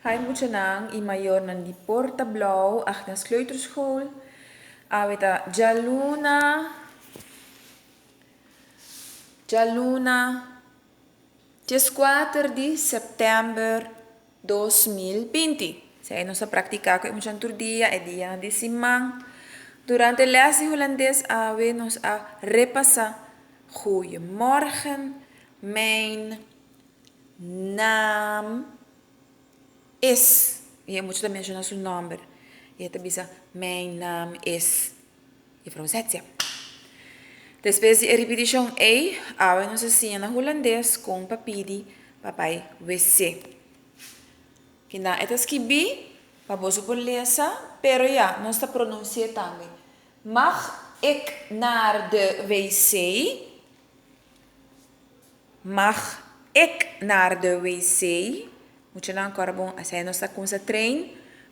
Hay muchanan y mayornan di Porta Blauw Agnes Kleuterschool, awe ta djaluna, djaluna, diescuater di september dos mil binti. Esei nos a practica cu e muchanan tur dia, e dianan di siman. Durante les di Hulandes awe nos a repasa Goeiemorgen mijn. Naam is. I e mucha ta menshona su nòmber. I e ta bisa, Mijn naam is Juffrouw Zetia. Despues di e ripitishon ei, awe nos a siña na hulandes kon pa pidi pa bai WC. Kina e ta skibí, pa boso por lesa, pero ya, nos ta pronunsi'é tambe. Mag ik naar de WC? Mag ec naar de WC? Muchanan cora bon asai nos ta cumsa train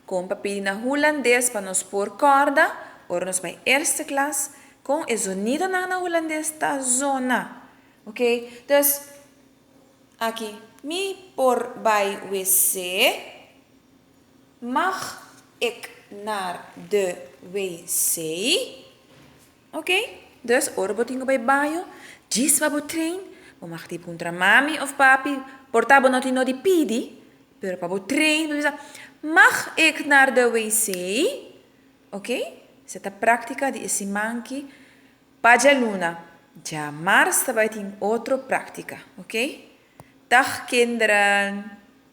con pa pidi na hulandes pa nos por corda ora nos bai eerste klas con e zonidonan na hulandes ta zona ok dus aki mi por bai WC? Mag ec naar de WC? Ok, dus ora bo tin ku bai baño, djis pa bo train, bo mag tin puntra mami of papi, por ta bo no tin no di pidi, pero pa bo train, bo bisa, Mag ik naar de wc? Ok, se ta praktika di e simanki pa djaluna, dja mars ta bai tin otro praktika, ok. Tag kinderen!